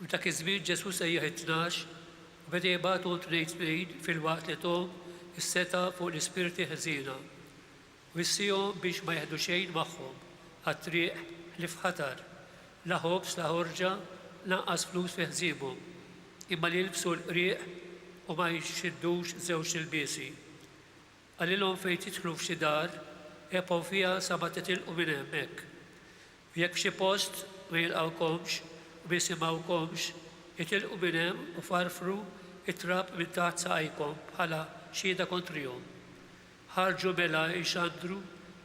F'dak iż-żmien Ġesù sejjaħ it-tnax u beda jibgħathom tnejn tnejn filwaqt li thom is-setgħa fuq l-ispirti ħżiena, wissiehom biex ma jeħdu xejn magħhom għat-triq ħlief ħatar, la ħobż la ħorġa lanqas flus fi ħżiemhom, imma li jilbsu l-qrieq u ma jxiddux żewġt ilbiesi. Qalilhom fejn tidħlu f'xi dar, ebqgħu fiha sa ma titilqu minn hemm hekk. U jekk f'xi post ma jilqgħukomx u ma jisimgħukomx, itilqu minn hemm u farfru t-trab minn taħt saqajkom bħala xhieda kontrihom. Ħarġu mela jxandru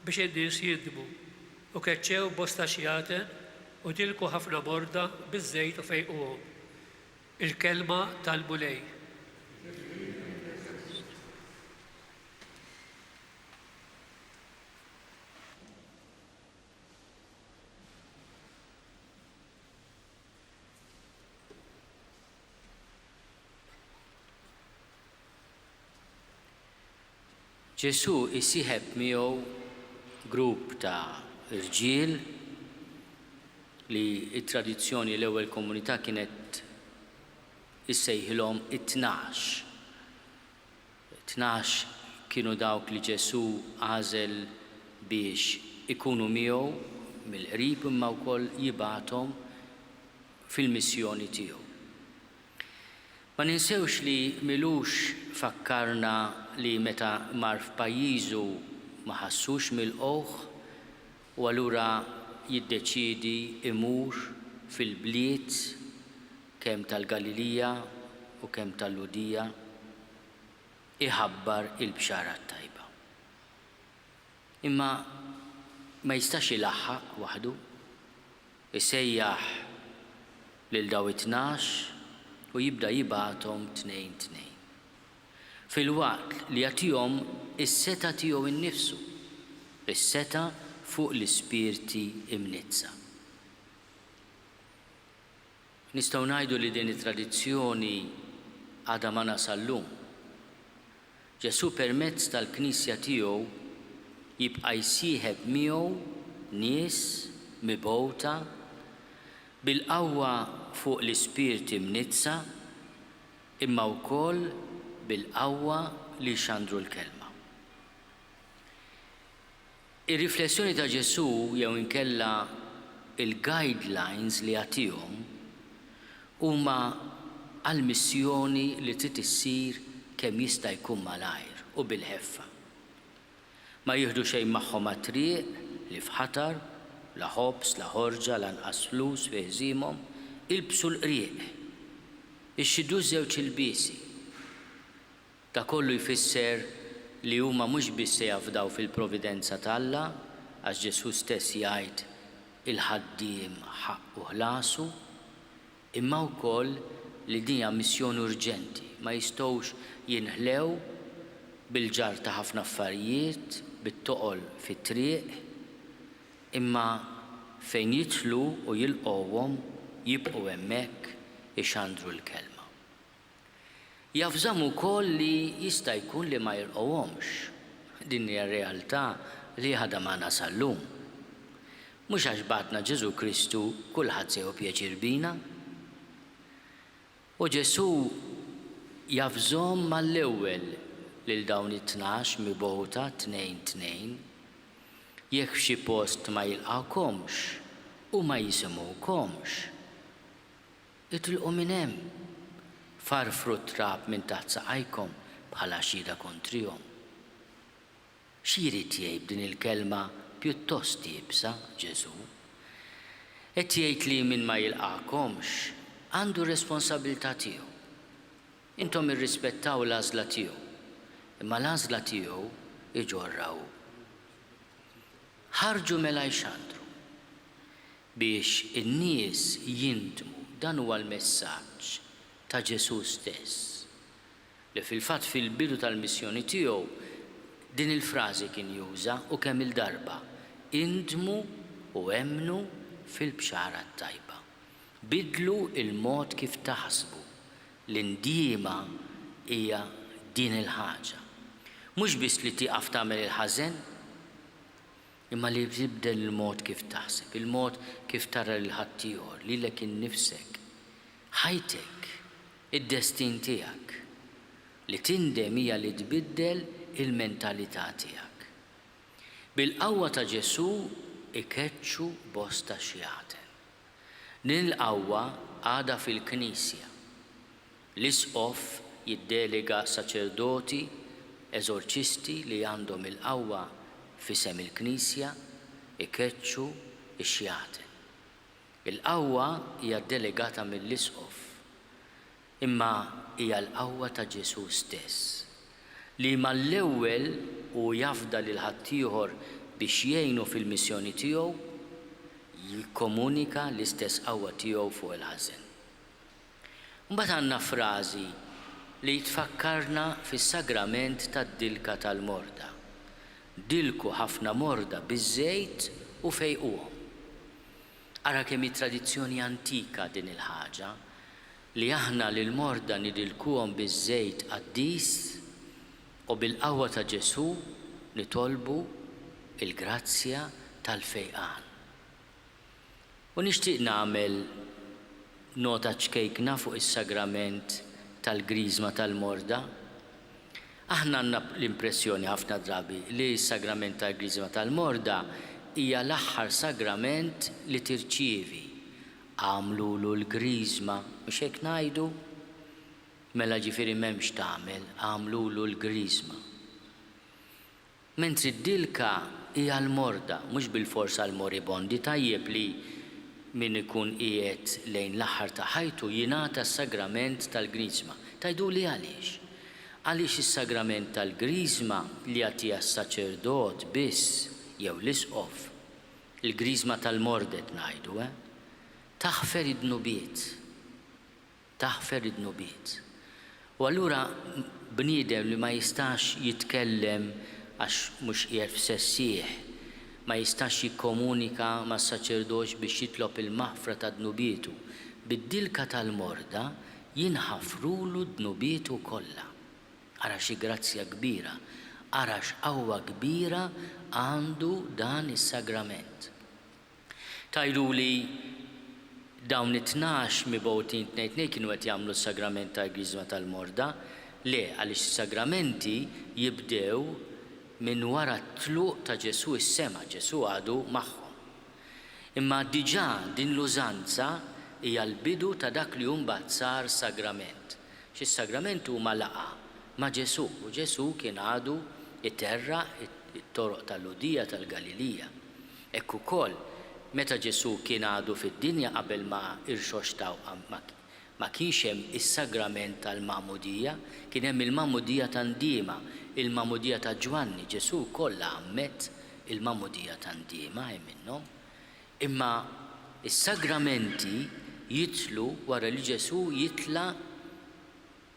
biex in-nies jindmu, u keċċew bosta xjaten u dilku ħafna morda biż-żejt u fejquhom. Il-Kelma tal-Mulej. Ġesù jsieħeb miegħu grupp ta' rġiel li t-tradizzjoni l-ewwel komunità kienet issejħilhom it-Tnax. Tnax kienu dawk li Ġesù għażel biex ikunu miegħu mill-qrib imma wkoll jibgħathom fil-missjoni tiegħu. Ma ninsewx li Milux fakkarna li meta mar f'pajjiżu ma ħassux milqugħ u allura jiddeċiedi imur fil-bliet kemm tal-Galilija u kemm tal-Lhudija iħabbar il-bxara t-tajba. Imma ma jistax ilaħħaq waħdu. isejjaħ lil daw it-tnax u jibda jibgħathom tnejn tnejn, filwaqt li jagħtihom is-setgħa tiegħu nnifsu, is-setgħa fuq l-ispirti mniddsa. Nistgħu ngħidu li din it-tradizzjoni għadha magħna sal-lum. Ġesù permezz tal-Knisja tiegħu jibqa' jsieħeb miegħu nies mibgħuta bil-qawwa fuq l-ispirti mniddsa imma wkoll bil-qawwa li jxandru l-Kelma. Ir-riflessjoni ta' Ġesù jew inkella il-guidelines li jagħtihom huma għal missjoni li trid issir kemm jista' jkun malajr u bil-ħeffa. Ma jieħdu xejn magħhom għat-triq, li f'ħatar, la ħobż, la ħorġa, lanqas flus fi ħżiemhom, ilbsu l-qrieq, ixxidu ż-żewġ ilbiesi. Dak kollu jfisser li huma mhux biss se jafdaw fil-providenza t'Alla, għax Ġesù stess jgħid, Il-ħaddiem ħaqqu ħlasu, imma wkoll li din hija missjoni urġenti, ma jistgħux jinħlew bil-ġarr ta' ħafna affarijiet, bit-toqol fit-triq, imma fejn jidħlu u jilqgħuhom, jibqgħu hemmhekk ixandru l-kelma. Jaf żamm ukoll li jista' jkun li ma jilqgħuhomx. Din hija realtà li għadha magħna sal-lum. Mhux għax bagħatna Ġesù Kristu kulħadd se jieħu pjaċir bina. U Ġesù jaf żomm mal-ewwel lil dawn it-tnax mibgħuta tnejn tnejn. Jekk f'xi post ma jilqgħukomx u ma jisimgħukomx. Itlqu minn hemm! Farfru t-trab minn taħt saqajkom bħala xhieda kontrihom. Xi jrid jgħid b'din il-kelma pjuttost iebsa Ġesù? Qed jgħid li min ma jilqagħkomx għandu r-responsabbiltà tiegħu. Intom irrispettaw l-għażla tiegħu, imma l-għażla tiegħu jġorrha hu. Ħarġu mela jxandru. Biex in-nies jindmu, dan huwa l-messaġġ ta' Ġesù stess, li fil-fatt fil-bidu tal-missjoni tiegħu din il-frażi kien juża u kemm-il darba, Indmu u emmnu fil-Bxara t-Tajba. Biddlu l-mod kif taħsbu, l-indiema hija din il-ħaġa. Mhux biss li tieqaf tagħmel il-ħażen. imma li tibdel il-mod kif taħseb, il-mod kif tara lil ħaddieħor, lilek innifsek, ħajtek, id-destin tiegħek. Li tindem hija li tbiddel il-mentalità tiegħek. Bil-qawwa ta' Ġesù ikeċċu bosta xjaten. Din il-qawwa għadha fil-Knisja. L-isqof jiddelega saċerdoti eżorċisti li għandhom il-qawwa f'isem il-Knisja jkeċċu x-xjaten. Il-qawwa hija ddelegata mill-isqof, imma hija l-qawwa ta' Ġesù stess, li mal-ewwel hu jafda lil ħaddieħor biex jgħinu fil-missjoni tiegħu, jikkomunika l-istess qawwa tiegħu fuq il-ħażen. Mbagħad għandna frażi li tfakkarna fis-sagrament tad-dilka tal-morda, Dilku ħafna morda biż-żejt u fejquhom. Ara kemm hi tradizzjoni antika din il-ħaġa, li aħna lill-morda nidilkuhom biż-żejt qaddis u bil-qawwa ta' Ġesù nitolbu l-grazzja tal-fejqan. U nixtieq nagħmel nota ċkejkna fuq is-sagrament tal-Griżma tal-Morda. Aħna għandna l-impressjoni ħafna drabi li s-sagrament tal-Griżma tal-Morda hija l-aħħar sagrament li tirċievi. Agħmlulu l-Griżma, mhux hekk ngħidu? Mela ġifieri m'hemmx tagħmel, agħmlulu l-Griżma. Mentri d-dilka hi għall-morda, mhux bilfors għall-moribondi, tajjeb li min ikun qiegħed lejn l-aħħar ta' ħajtu jingħata s-sagrament tal-Griżma. Tgħiduli għaliex? Għaliex is-sagrament tal-Griżma li jagħtiha s-saċerdot biss jew l-isqof, il-Griżma tal-mordet ngħidu, eh? taħfer id-dnubiet. taħfer id-dnubiet. U allura bniedem li ma jistax jitkellem għax mhux qiegħed f'sessih, ma jistax jikkomunika mas-saċerdoċ biex jitlob il-maħfra ta' dnubietu, bid-dilka tal-morda jinħafrulu dnubietu kollha. Ara xi grazzja kbira, ara x'qawwa kbira għandu dan is-sagrament. Tgħiduli, Dawn it-tnax mibgħutin tnejn tnejn kienu qed jagħmlu s-Sagrament tal-Griżma tal-Morda? Le, għaliex is-Sagramenti jibdew minn wara t-tluq ta' Ġesù s-sema, Ġesù għadu magħhom. Imma diġà din l-użanza hija l-bidu ta' dak li hu mbagħad sar Sagrament. Għax is-Sagrament huma laqgħa ma' Ġesù, u Ġesù kien għadu jterraq it-toroq tal-Lhudija, tal-Galilija. Hekk ukoll, meta Ġesù kien għadu fid-dinja qabel ma irxoxtaw ma kienx hemm is-sagrament tal-magħmudija, kien hemm il-magħmudija ta' ndiema, il-magħmudija ta' Ġwanni, Ġesù wkoll għammed il-magħmudija ta' ndiema, hi minnhom. Imma s-sagramenti jidħlu wara li Ġesù jitla'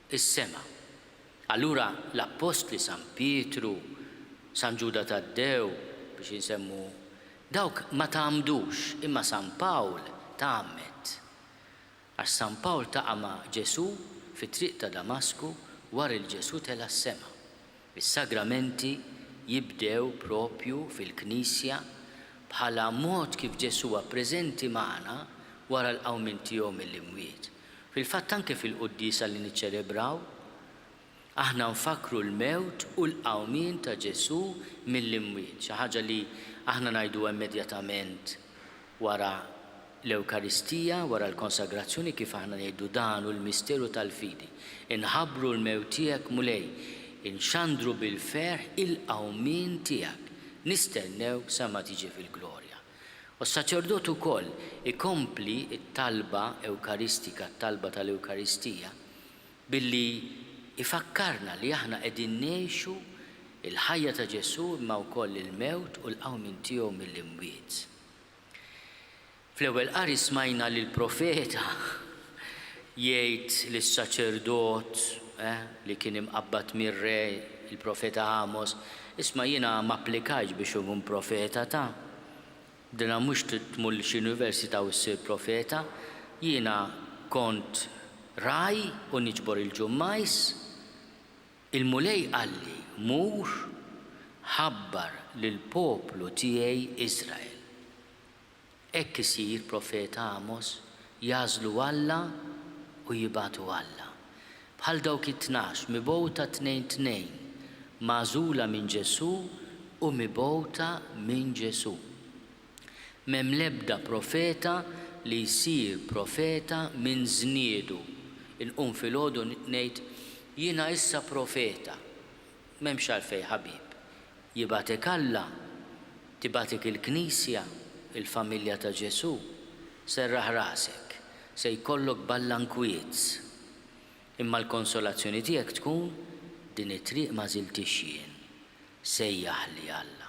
is-sema. Allura l-appostli San Pietru, San Ġuda Taddew, biex insemmu dawk ma tgħammdux, imma San Pawl tgħammed. Għax San Pawl taqa' ma' Ġesù fit-triq ta' Damasku war il Ġesù tela' s-sema. Is-sagramenti jibdew proprju fil-Knisja bħala mod kif Ġesù huwa preżenti magħna wara l-qawmien tiegħu mill-imwiet. Fil-fatt anke fil-Quddiesa li niċċelebraw, aħna nfakkru l-mewt u l-qawmien ta' Ġesù mill-imwiet, xi ħaġa li aħna ngħiduha immedjatament wara l-Ewkaristija, wara l-Konsagrazzjoni kif aħna ngħidu dan hu l-misteru tal-fidi, inħabbru l-mewt tiegħek Mulej, inxandru bil-ferħ il-qawmien tiegħek, nistennewk sa ma tiġi fil-glorja. U s-saċerdot ukoll ikompli t-talba ewkaristika, t-talba tal-Ewkaristija, billi jfakkarna li aħna qegħdin ngħixu l-ħajja ta' Ġesù imma wkoll il-mewt u l-qawmien tiegħu mill-imwiet. Fl-Ewwel Qari smajna lill-Profeta jgħid lis-saċerdot li kien imqabbad mir-re, il-profeta Għamos, Isma', jiena ma applikajtx biex inkun profeta ta'. Bdilha mhux tmur lil xi università u ssir profeta. Jiena kont ragħaj u niġbor il-ġummajs. Il-Mulej qalli, 'Mur, ħabbar lill-poplu tiegħi Israel. Hekk isir, profeta Għamos, jagħżlu Alla u jibgħatu Alla. Bħal dawk it-tnax, mibgħuta tnejn tnejn, magħżula minn Ġesù u mibgħuta minn Ġesù. M'hemm l-ebda profeta li jsir profeta minn żniedu, inqum filgħodu ngħid, Jiena issa profeta. M'hemmx għalfejn ħabib. Jibgħatek Alla, tibgħatek il-Knisja, il-familja ta' Ġesù, serraħ rasek, se jkollok balla nkwietz. Imma l-konsolazzjoni tiegħek tkun, din it-triq ma żiltiex jien, sejjaħli Alla.